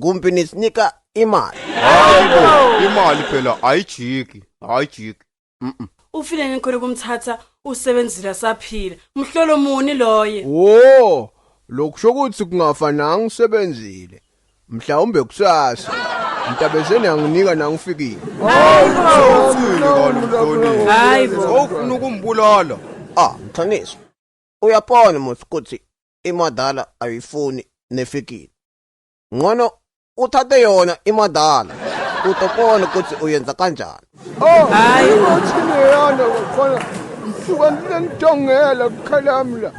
kumpi nisinika imali hayi bo imali phela ayijiki ayijiki mhm ufile ngikhona kumthatha usebenzile saphila umhlolo muni loye wo lokusho ukuthi kungafananga usebenzile mhlawumbe kusasa mntabezeni anginika nangifikile uthini kanti mhlonini Hayi bo. sowufuna ukumbulala ah mthaniso uyapona muthi ukuthi imadala ayifuni nefikile Ngcono uthathe yona imadala. Utopona ukuthi uyenza kanjani. Oh, hayi uthini yona ngifona. Ngisuka nginentongela kukhalami la.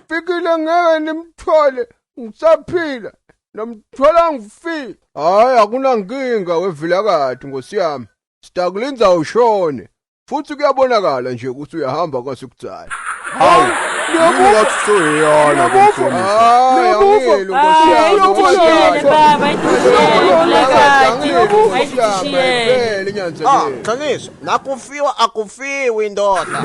Fikile ngeke nimthole ngisaphila. Nomthola ngifile. Hayi akunankinga wevilakati nkosi yami. Sitakulinza ushone. futhi kuyabonakala nje ukuthi uyahamba kwasekudala hawu qiniso nakufiwa akufiwi ndoda